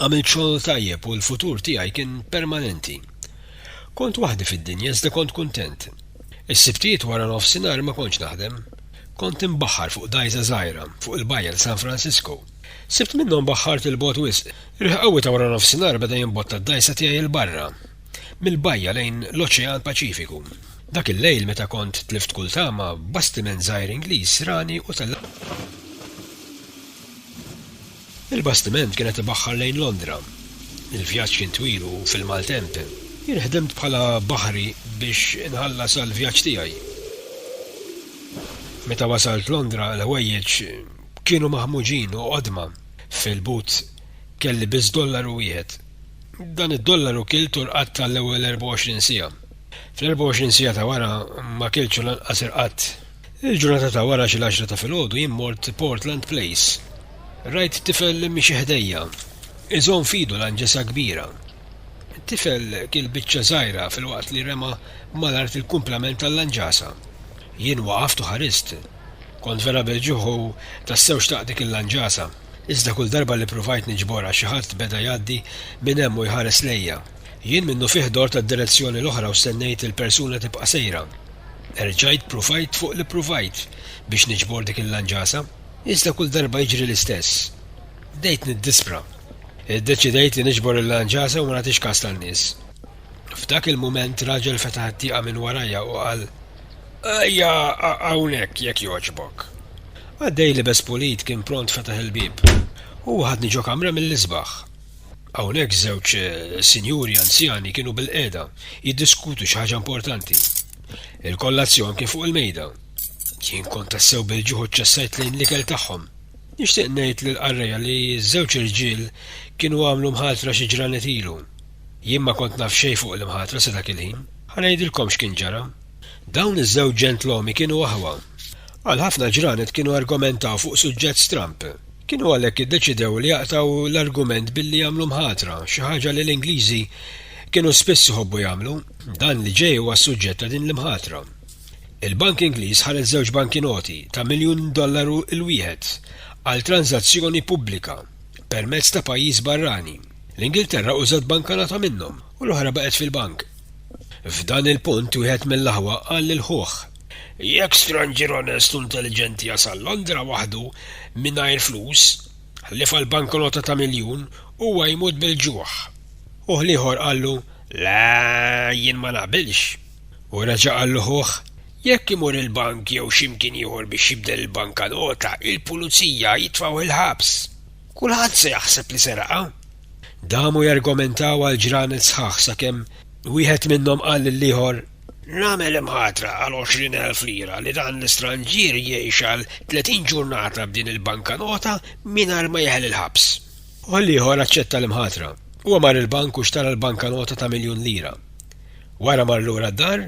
Għamilt xogħol tajjeb u l-futur tiegħi kien permanenti. Kont waħdi fid-dinja iżda kont kuntent. Is-Sibtijiet wara nofsinhar ma kontx naħdem. Kont inbaħħar fuq dgħajsa żgħira fuq il-bajja ta' San Francisco. Sibt minnhom baħħart 'il bogħod wisq. Riħ qawwi ta' wara nofsinhar beda jimbotta d-dgħajsa tiegħi 'il barra, mill-bajja lejn l-Oċean Paċifiku. Dak il-lejl meta kont tlift kull tama, bastiment żgħir Ingliż rani u tellaqni. Il-bastiment kien qed ibaħħar lejn Londra. Il-vjaġġ kien twil u fil-maltemp. Jien ħdimt bħala baħri biex inħallas għall-vjaġġ tiegħi. Meta wasalt Londra, l-ħwejjeġ kienu maħmuġin u qodma. Fil-but kelli biss dollaru wieħed. Dan id-dollaru kilt u rqadt għall-ewwel 24 siegħa. Fl-24 siegħa ta' wara ma kiltx u lanqas irqadt. Il-ġurnata ta' wara xi l-għaxra ta' filgħodu jien mort Portland Place. Rajt tifel miexi ħdejja, iżomm f'idu lanġesa kbira. It-tifel kiel biċċa żgħira filwaqt li rema' mal-art il-kumplament tal-lanġasa. Jien waqaft u ħarist. Kont vera bil-ġuħ u tassew xtaqt dik il-lanġasa. Iżda kull darba li pruvajt niġborha xi ħadd beda jgħaddi minn hemm u jħares lejja. Jien minnufih dort għad-direzzjoni l-oħra u stennejt li l-persuna tibqa' sejra. Erġajt pruvajt fuq li pruvajt biex niġbor dik il-lanġasa, iżda kull darba jiġri l-istess. Bdejt niddispra. Iddeċidejt li niġbor il-lanġasa u ma nagħtix kas tan-nies. F'dak il-mument raġel fetaħ it-tieqa minn warajja u qal, Ejja hawnhekk jekk jogħġbok. Qaddej libes pulit kien pront fetaħ il-bieb. Huwa ħadni ġo kamra mill-isbaħ. Hawnhekk żewġ sinjuri anzjani kienu bilqiegħda jiddiskutu xi ħaġa importanti. Il-kollazzjon kien fuq il-mejda. Jien kont tassew bil-ġuħ u ċċessajt lejn l-ikel tagħhom. Nixtieq ngħid lill-qarrejja li ż-żewġ irġiel kienu għamlu mħatra xi ġranet ilu. Jien ma kont naf xejn fuq l-imħatra sa dak il-ħin. Ħa ngħidilkom x'kien ġara. Dawn iż-żewġ ġentlommi kienu aħwa. Għal ħafna ġranet kienu argumentaw fuq suġġett stramb. Kienu għalhekk iddeċidew li jaqtgħu l-argument billi jagħmlu mħatra, xi ħaġa li l-Ingliżi kienu spiss iħobbu jagħmlu. Dan li ġej huwa s-suġġett ta' din l-imħatra. Il-bank Ingliż ħareġ żewġ bankinoti ta' miljun dollaru l-wieħed għal tranżazzjoni pubblika permezz ta' pajjiż barrani. L-Ingilterra użat bankanota minnhom u l-oħra baqgħet fil-bank. F'dan il-punt wieħed mill-aħwa qal lil ħuh. Jekk stranġier onest u intelliġenti jasal Londra waħdu mingħajr flus, ħlief għal banknota ta' miljun, huwa jmut bil-ġuħ. Ħuh l-ieħor qallu, Le, jien ma naqbilx. U reġa' qallu ħuh, Jekk imur il-bank jew xi mkien ieħor biex jibdel il-bankanota, il-pulizija jitfgħuh il-ħabs. Kulħadd se jaħseb li seraqha. Damu jargumentaw għal ġranet sħaħ sakemm wieħed minnhom qal lill-ieħor, Nagħmel imħatra għal 20,000 lira li dan l-istranġier jgħix għal 30 ġurnata b'din il-bankanota mingħajr ma jeħel il-ħabs. Ħaddieħor aċċetta l-imħatra. Huwa mar il-bank u xtara l-bankanota ta' miljun lira. Wara mar lura d-dar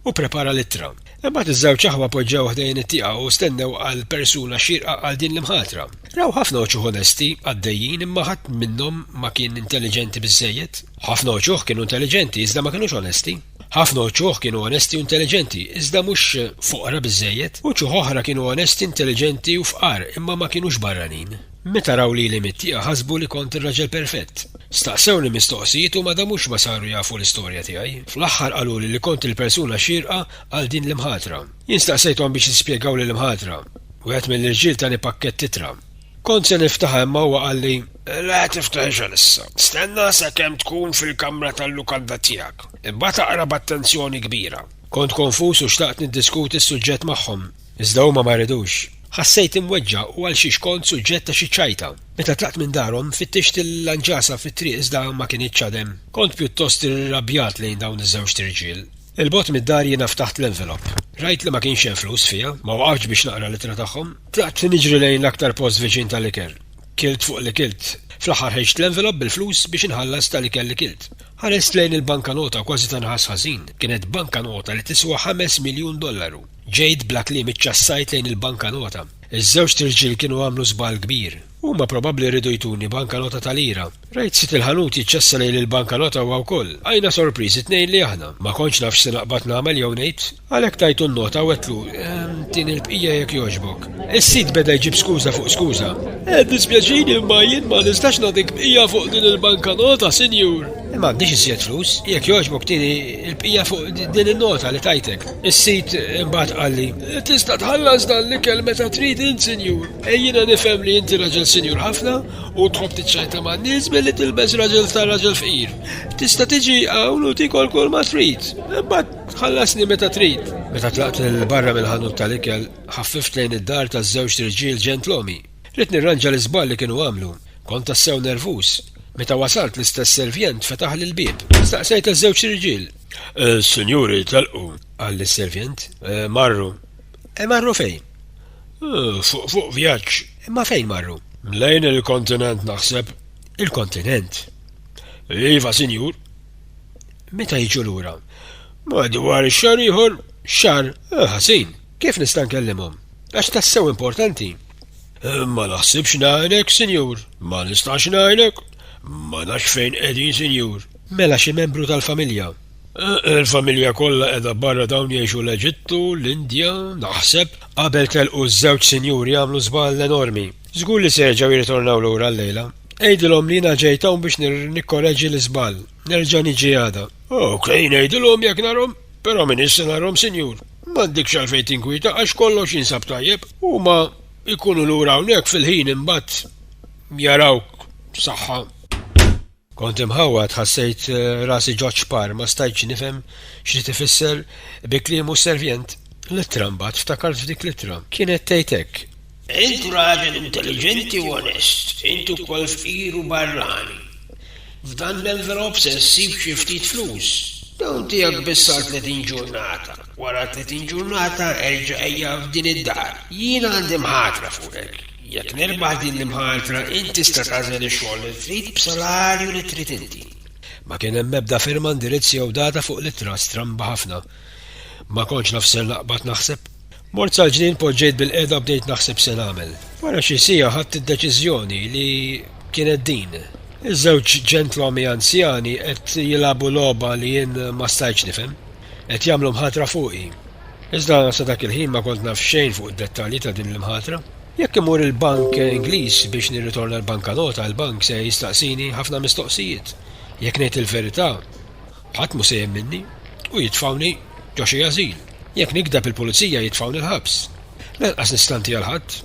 u pprepara l-ittra. Imbagħad iż-żewġ aħwa poġġew ħdejn it-tieqa u stennew għall-persuna xierqa għal din l-imħatra. Raw ħafna uċuħ onesti għaddejjin imma ħadd minnhom ma kien intelliġenti biżżejjed. Ħafna uċuħ kienu intelliġenti iżda ma kinux onesti. Ħafna uċuħ kienu onesti u intelliġenti iżda mhux foqra biżżejjed. Uċuħ oħra kienu onesti, intelliġenti u fqar imma ma kinux barranin. Meta raw lili mit-tieqa ħasbu li kont ir-raġel perfett. Staqsewni mistoqsijiet u madamux ma saru jafu l-istorja tiegħi. Fl-aħħar qaluli li kont il-persuna xierqa għal din l-imħatra. Jien staqsejthom biex jispjegaw lill-imħatra. Wieħed mill-irġiel tani pakkett ittra. Kont se niftaħha imma huwa qalli, Le tiftaħhiex għalissa. Stenna sakemm tkun fil-kamra tal-lukanda tiegħek. Imbagħad aqra b'attenzjoni kbira. Kont konfuż u xtaqt niddiskuti s-suġġett magħhom, iżda huma ma ridux. Ħassejt imweġġa' u għal xiex kont suġġett ta' xi ċajta. Meta tlaqt minn darhom, fittixt il-lanġasa fit-triq iżda ma kinitx għad hemm. Kont pjuttost irrabjat lejn dawn iż-żewġt irġiel. 'il bogħod mid-dar jiena ftaħt l-envelop. Rajt li ma kienx hemm flus fiha. Ma waqaftx biex naqra l-ittra tagħhom. Tlaqt niġri lejn l-aktar post viċin tal-ikel. Kilt fuq li kilt. Fl-aħħar ħejġt l-envelop bil-flus biex inħallas tal-ikel li kilt. Ħarist lejn il-bankanota u kważi ta' nħass ħażin. Kienet bankanota li tiswa ħames miljun dollaru. Ġejt bla kliem iċċassajt lejn il-bankanota. Iż-żewġt irġiel kienu għamlu żball kbir. Huma probabbli riedu jtuni bankanota ta' lira. Rajt sid il-ħanut jiċċassa lejn il-bankanota huwa wkoll. Bqajna sorpriżi t-tnejn li aħna. Ma kontx naf x'se naqbad nagħmel jew ngħid. Għalhekk tajtu n-nota u għedtlu, Tini l-bqija jekk jogħġbok. Is-sid beda jġib skuża fuq skuża. Eh, dispjaċini imma jien ma nistax nagħtik bqija fuq din il-banka nota, sinjur. Eh, ma għandix iżjed flus, jekk jogħġbok tini l-bqija fuq din in-nota li tajtek. Is-sid imbagħad qalli, eh, Tista' tħallas dan l-ikel meta trid int, sinjur. Ejjina nifhem li inti raġel sinjur ħafna u tħobb tiċċajta man-nies billi tilbes raġel ta' raġel fqir. Tista' tiġi hawn u tikol kull ma trid. Imbagħad Tħallasni meta trid. Meta tlaqt lil barra mill-ħanut tal-ikel, ħaffift lejn id-dar taż-żewġt irġiel ġentlomi. Ridt nirranġa l-iżball li kienu għamlu. Kont tassew nervuż. Meta wasalt l-istess servjent fetaħli l-bieb. Staqsejt taż-żewġt irġiel. Is-sinjuri telqu. Qalli s-servjent. Marru. E marru fejn? Fuq fuq vjaġġ. Imma fejn marru? Lejn il-kontinent naħseb. Il-kontinent? Iva sinjur. Meta jiġu lura? Madwar xahar ieħor, xahar ħażin. Kif nista' nkellimhom? Għax tassew importanti. Ma naħsibx ngħinek, Sinjur. Ma nistax ngħinek. Ma nafx fejn qegħdin, Sinjur. Mela xi membru tal-familja? Il-familja kollha qiegħda barra dawn jgħixu l-Eġittu, l-Indja, naħseb. Qabel telqu ż-żewġ sinjuri għamlu żball enormi. Żgur li se jerġgħu jirritornaw lura llejla. Għidilhom li jiena ġejt hawn biex nikkoreġi l-iżball. Nerġa' niġi għada. Ok, ngħidilhom jekk narhom, però minn issa narhom sinjur. M'għandekx għalfejn tinkwieta għax kollox jinsab tajjeb. Huma jkunu lura hawnhekk fil-ħin imbagħad jarawk b'saħħa. Kont imħawwad, ħassejt rasi ġo ċpar, ma stajtx nifhem x'ried ifisser bi kliemu s-servjent. L-ittra mbagħad, ftakart f'dik l-ittra. Kienet tgħid hekk, Int raġel intelliġenti u onest, int ukoll fqir u barrani. F'dan l-envelop se ssib xi ftit flus. Dawn tiegħek biss għal tletin ġurnata. Wara tletin ġurnata erġa' ejja f'din id-dar. Jiena għandi mħatra fuqek. Jekk nirbaħ din l-imħatra int tista' tagħżel ix-xogħol li trid b'salarju li trid inti. Ma kien hemm ebda firma, indirizz jew data fuq l-ittra stramba ħafna. Ma kontx naf ser naqbad naħseb. Mort sal-ġnien poġġejt bil-qiegħda bdejt naħseb se nagħmel. Wara xi siegħa ħadt id-deċiżjoni li kienet din. Iż-żewġ ġentlommi anzjani qed jilagħbu logħba li jien ma stajtx nifhem. Qed jagħmlu mħatra fuqi. Iżda sa dak il-ħin ma kont naf xejn fuq id-dettalji ta' din l-imħatra. Jekk immur il-bank Ingliż biex nirritorna l-bankanota il-bank se jistaqsini ħafna mistoqsijiet. Jekk ngħid il-verità, Ħadd mhu se jemminni u jitfgħuni ġo xi ażil. Jekk nikdeb il-pulizija jitfgħuni l-ħabs. Lanqas nistanti għal ħadd,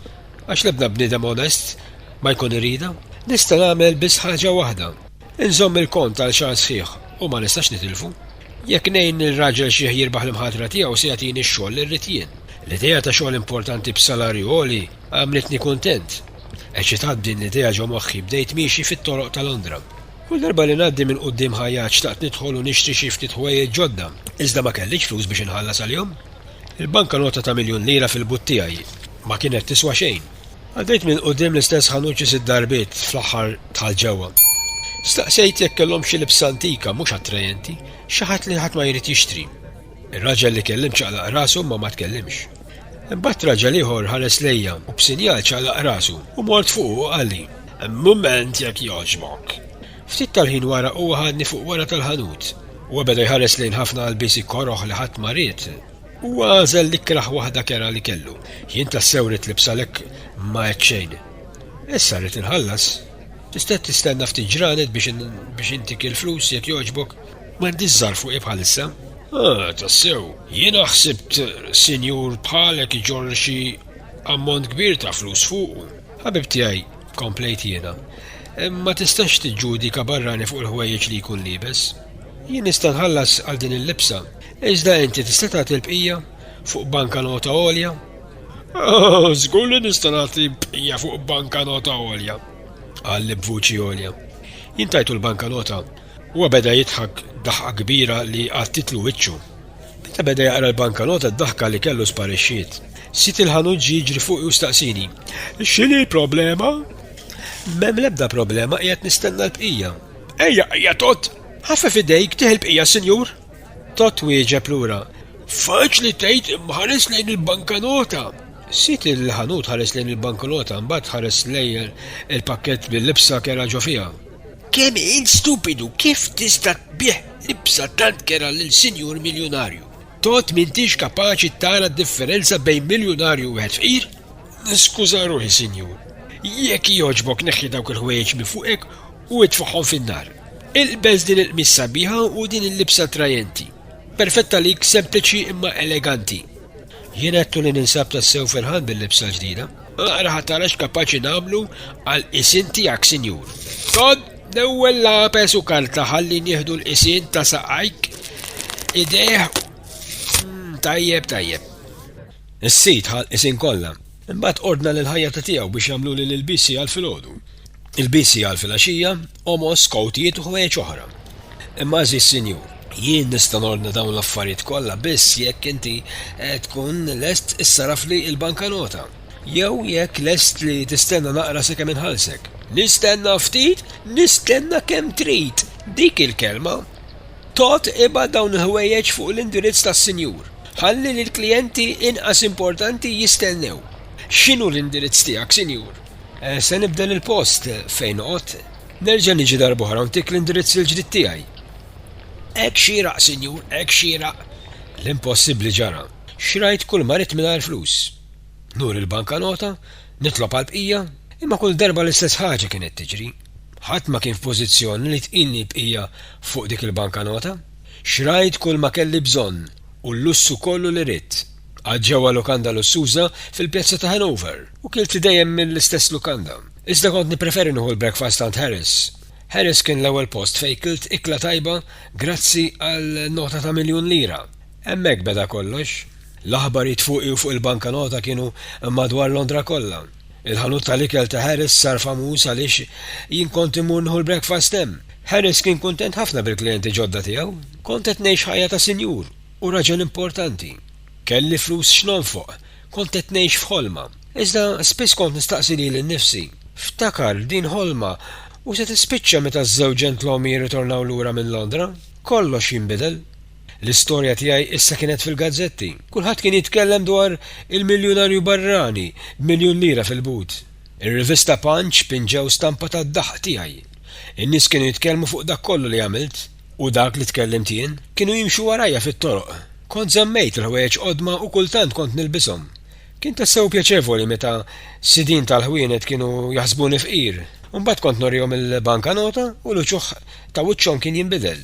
għax l-ebda bniedem onest ma jkun iridha. Nista' nagħmel biss ħaġa waħda, inżomm il-kont għal xahar sħiħ u ma nistax nitilfu. Jekk ngħin lil raġel xiħ jirbaħ l-imħatra tiegħu se jagħtini x-xogħol li rrid jien. L-idea ta' xogħol importanti b'salarju għoli għamlitni kuntent. Eċitat b'din l-idea ġo moħħi bdejt miexi fit-toroq ta' Londra. Kull darba li ngħaddi minn quddiem ħajjat xtaqt nidħol u nixtri xi ftit ħwejjeġ ġodda, iżda ma kellix flus biex inħallas għalihom. Il-banka nota ta' miljun lira fil-but tiegħi ma kienet tiswa xejn. Għaddejt minn quddiem l-istess ħanut xi sitt darbiet, fl-aħħar dħalt ġewwa. Staqsejt jekk kellhomx xi libsa antika, mhux attrajenti, xi ħadd li ħadd ma jrid jixtri. Ir-raġel li kellimt ċaqlaq rasu imma ma tkellimx. Imbagħad raġel ieħor ħares lejja u b'sinjal ċaqlaq rasu u mort fuqu u qalli, Mument jekk jogħġbok. Ftit tal-ħin wara huwa ħadni fuq wara tal-ħanut. Huwa beda jħares lejn ħafna għalbiesi koroh li ħadd ma ried. Huwa għażel l-ikrah waħda kerha li kellu. Jien tassew ridt libs għalhekk ma għedt xejn. Issa rrid inħallas. Tista' tistenna ftit ġranet biex intik il-flus jekk jogħġbok? M'għandix żgħar fuqi bħalissa. Ah, tassew. Jiena ħsibt sinjur bħalek iġorr xi ammont kbir ta' flus fuqu. Ħabib tiegħi, komplejt jiena, ma tistax tiġġudika barrani fuq il-ħwejjeġ li jkun libes. Jien nista' nħallas għal din il-libsa, iżda inti tista' tagħti l-bqija fuq banka nota għolja? Ah, żgur li nista' nagħti bqija fuq banka nota għolja, qal li b'vuċi għolja. Jien tajtu l-banka nota Huwa beda jidħak daħqa kbira li għattitlu wiċċu. Meta beda jaqra l-bankanota d-daħka li kellu sparixxiet. Sid il-ħanut ġie jiġri fuqi u staqsieni, X'inhi l-problema? M'hemm l-ebda problema qiegħed nistenna l-bqija. Ejja, ejja Tot! Ħaffef idejk tieħ il-bqija, sinjur! Tot wieġeb lura, Faċli tgħid imma ħares lejn il-bankanota! Sid il-ħanut ħares lejn il-bankanota mbagħad ħares lejn il-pakkett bil-libsa kera ġo fiha. Kemm int stupidu, kif tista' tbigħ libsa tant kerha lil sinjur miljunarju? Tgħodd m'intix kapaċi tara d-differenza bejn miljunarju u wieħed fqir? Niskuża ruħi, sinjur. Jekk jogħġbok neħħi dawk il-ħwejjeġ minn fuqek u itfagħhom fin-nar. Ilbes din il-qmis sabiħa u din il-libsa attrajenti. Perfett għalik, sempliċi imma eleganti. Jien għedtu li ninsab tassew ferħan bil-libsa ġdida. Aqra ħatara x'kapaċi nagħmlu għal isin tiegħek, Sinjur. Tod l-ewwel lapes u karta ħalli nieħdu l-isin ta' saqajk idejh mm, tajjeb tajjeb. Is-sid ħal isin kollha Imbagħad ordna lill-ħajjata tiegħu biex jagħmluli l-ilbies għal filgħodu, ilbies għal filgħaxija, għomos, kowtijiet u ħwejjeġ oħra. Imma għażiż Sinjur. Jien nista' nordna dawn l-affarijiet kollha biss jekk inti tkun lest issarrafli l-bankanota. Jew jekk lest li tistenna naqra sakemm inħallsek. Nistenna ftit? Nistenna kemm trid! Dik il-kelma! Tod ibgħat dawn il-ħwejjeġ fuq l-indirizz tas-Sinjur. Ħalli lill-klijenti inqas importanti jistennew. X'inhu l-indirizz tiegħek, Sinjur? Se nibdel il-post fejn noqgħod. Nerġa' niġi darb'oħra u ntik l-indirizz il-ġdid tiegħi. Hekk xieraq, Sinjur, hekk xieraq. L-impossibbli ġara. Xrajt kull ma ridt mingħajr flus. Nuri l-bankanota, nitlob għall-bqija, imma kull darba l-istess ħaġa kienet tiġri. Ħadd ma kien f'pożizzjoni li tqinni l-bqija fuq dik il-bankanota. Xtrajt kull ma kelli bżonn u l-lussu kollu li ridt. Qgħadt ġewwa lukanda lussuża fil-pjazza ta' Hanover u kilt dejjem mill-istess lukanda. Iżda kont nippreferi nieħu l-breakfast għand Harris. Harris kien l-ewwel post fejn kilt ikla tajba grazzi għal nota ta' miljun lira. Hemmhekk beda kollox. L-aħbarijiet fuqi u fuq il-bankanota kienu madwar Londra kollha. Il-ħanut tal-ikel ta' Harris sar famuż għaliex jien kont immur nieħu l-breakfast hemm. Harris kien kuntent ħafna bil-klijenti ġodda tiegħu. Kont qed ngħix ħajja ta' sinjur u raġel importanti. Kelli flus x'nonfoq. Kont qed ngħix f'ħolma. Iżda spiss kont nistaqsi lili nnifsi, 'Ftakar, din ħolma u se tispiċċa meta ż-żewġ ġentlommi jirritornaw lura minn Londra? Kollox jinbidel. L-istorja tiegħi issa kienet fil-gazzetti. Kulħadd kien jitkellem dwar il-miljunarju barrani b'miljun lira fil-but. Ir-rivista Punch pinġew stampa tad-daħq tiegħi. In-nies kienu jitkellmu fuq dak kollu li għamilt. U dak li tkellimt jien, kienu jimxu warajja fit-toroq. Kont żammejt il-ħwejjeġ qodma u kultant kont nilbishom. Kien tassew pjaċevoli meta sidien tal-ħwienet kienu jaħsbuni fqir. Imbagħad kont nurihom il-bankanota u l-uċuħ ta' wiċċhom kien jinbidel.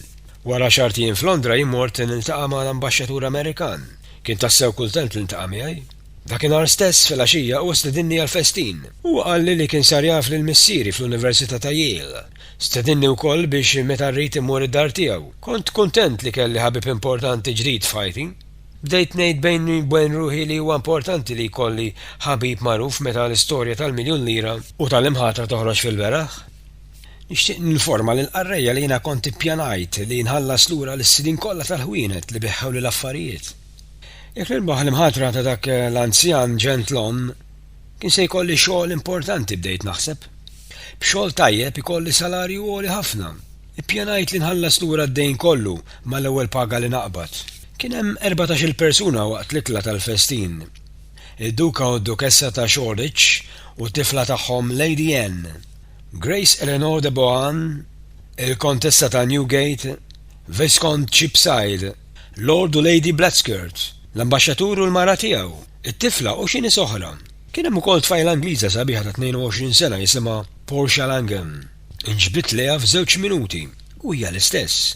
Wara xart jien f'Londra jien mort niltaqa' ma' l-Ambaxxatur Amerikan. Kien tassew kultent li ltaqa' miegħi. Dakinhar stess filgħaxija hu stedinni għal festin. Huwa qalli li kien sar jaf lil missieri fl-Università ta' Yale. Stedinni wkoll biex meta rrid immur id-dar tiegħu. Kont kuntent li kelli ħabib importanti ġdid f'ħajti. Bdejt ngħid bejni wbejn ruħi li huwa importanti li jkolli ħabib magħruf meta l-istorja tal-miljun lira u tal-imħatra toħroġ fil-beraħ. Nixtieq ninforma lill-qarrejja li jiena kont ippjanajt li nħallas lura lis-sidien kollha tal-ħwienet li beħħewli l-affarijiet. Jekk nirbaħ l-imħatra ta' dak l-anzjan ġentlom, kien se jkolli xogħol importanti, bdejt naħseb. B'xogħol tajjeb ikolli salarju għoli ħafna. Ippjanajt li nħallas lura d-dejn kollu mal-ewwel paga li naqbad. Kien hemm erbatax-il persuna waqt l-ikla tal-festin, id-Duka u d-Dukessa ta' Shoreditch u t-tifla tagħhom Lady Anne. Grace Eleanor de Bohun, il-Kontessa ta' Newgate, Viskont Cheapside, Lord u Lady Blatchskirt, l-Ambaxxatur u l-mara tiegħu, it-tifla u xi nies oħra. Kien hemm ukoll tfajla Ingliża sabiħa ta' 22 sena jisimha Portia Langham. Inġbidt lejha f'żewġ minuti u hija l-istess.